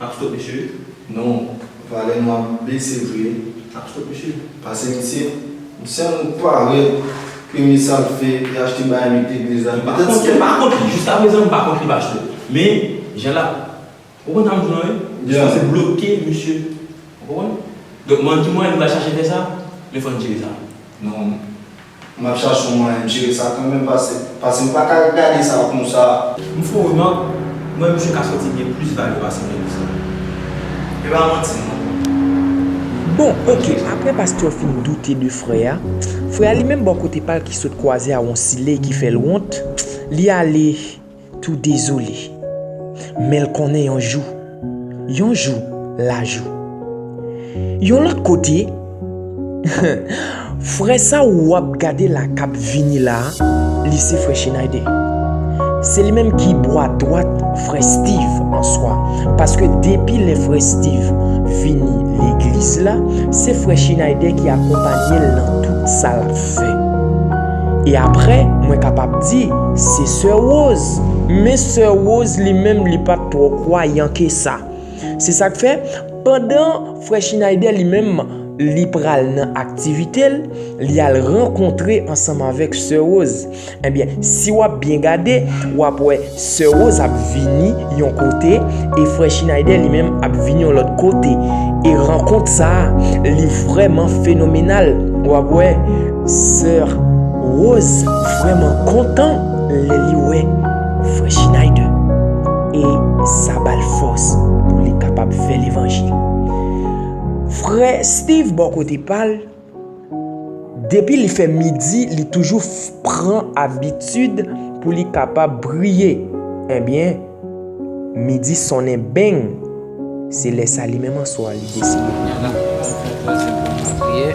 Ap stop misye non valè nou ap bese vre ap stop misye. Pase misye m selmn pa wè premye sal fè li achte bay li te gnlè zam petèt se. M pa kont li jiska prezan m pa kont li pa cho men jan lap ou konn sa m di w lan wi li sipoze bloke misye ou konprann donk m ann ki mwayen li pral chache fè sa men fòn jere sa. Non. Map chache yon mwayen jere sa kanmenm pase pase m paka gade sa konsa. M fon remak m wè misye ka sòti gen plis vale pase Kenny sa e pa manti non. Bon ok aprè pastè fin doute de frè a, frè a li menm bò kote pal ki sot kwaze a yon siley ki fèl wont, li ale. tou dezole Men l konnen yon jou Yon jou l a jou Yon lòt kote Frè sa w w ap gade la k ap vini la a Li se frè Chinayde Se li menm ki bwa dwat frè Stiv an swa Paske depi lè frè Stiv vini legliz la Se frè Chinayde ki akonpanye l nan tout sa l ap fè E aprè mwen kapab di se sè Rose, men sè Rose li menm li pat twò kwayan ke sa. Se sak fè pandan frè Schineider li menm li pral nan aktivite l, li al rankontre ansanm avèk sè Rose. Ebyen si wap byen gade wap wè Sè Woz ap vini yon kote e frè Chinayde li menm ap vini yon lòt kote e rankont sa a li vrèman fenomenal w ap wè sè Woz vrèman kontan lè li wè frè Chinayde e sa ba l fòs pou li kapab fè levanjil. Frè Stiv bò kote pa l. Depi li fè midi li toujou pran abitid pou li kapab priye ebyen midi sonnen beng se lè sa li menm aswa li deside pou li priye.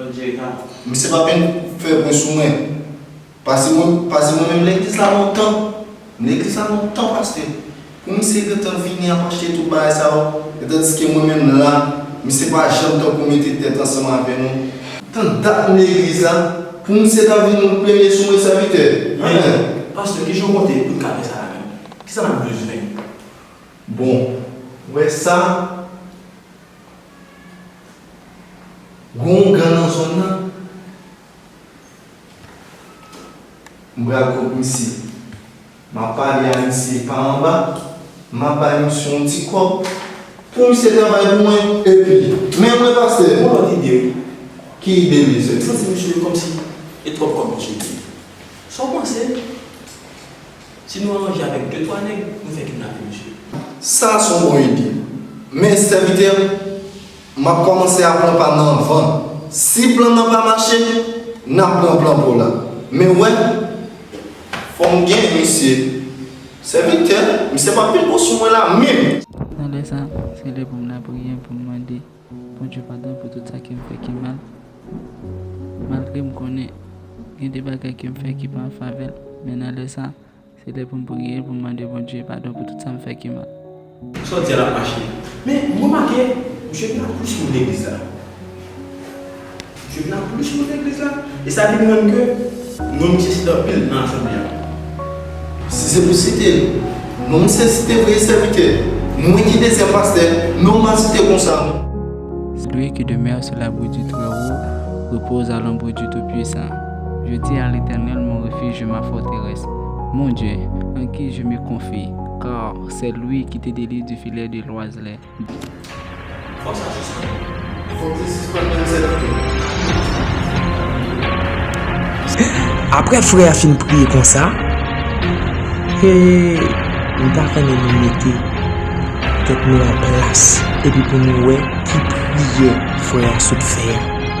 Bon Dieu gad. Misye pa vin fè bri sou mwen pase mwen pase mwen menm legliz la lontan m legliz la lontan pastè pou misye gentan vini ap achte tout bagay sa yo e tandiske mwen menm la misye pa janm tankou mete tèt ansanm avè nou tan dat m legliz la pou misye ta vin yon premye sou mwen sèvitè men. Pastè kijan w konte pou n ka fè sa la menm kisa n ap bezwen. Bon ou wè sa. Gon yon gang nan zone nan. M pral kont misye. Map pale a misye pa anba. Map bay misye yon ti kòb. Pou misye travay pou mwen. Epi. Men mwen pastè. Gon lòt ide wi. Ki ide mesye? Misye di misye komsi e twòp kòb misye di. Sa w panse? Si nou aranje avek de twa neg nou fe kidnape misye. Sa a son bon ide. Men sèvitè m, m ap kòmanse a pran pa m nan anvan. Si plan nan pa mache, n ap pran plan Pòl la. Men w wè. Fò m gen misye. Sèvitè, misye pa vin pou sou mwen la menm! Nan lè sa a, se lè pou m lapriyè pou m mande. Bondye padon pou tout sa kem fè ki mal malgre m konnen gen de bagay kem fè ki pa an favè l men nan lè sa se lè poum priye poum mande Bondye padon pou tout sam fè ki mal. Sa w di a la ap mache. Men m remake misye pa plis moun legliz la. Jèn nan plis sou legliz la e sa vin rann ke non misye site anpil nan asanble a. Si se pou site non misye site vrè sèvitè, mwen ki dezyèm pastè, non m pa site konsa. Celui qui demeure sous l'abri du Très-Haut repose à l'ombre du Tout-Puissant. Je dis à l'Éternel mon refuge et ma forteresse, mon Dieu, en qui je me confie, car c'est lui qui te délivre du filet de l'oiseleur. Fok sa sispann. Fok li sispann menm sèt fre. Aprè frè a fin priye konsa, hee m ta renmen nou mete tèt nou an plas epi pou nou wè ki priyè frè a sot fè a.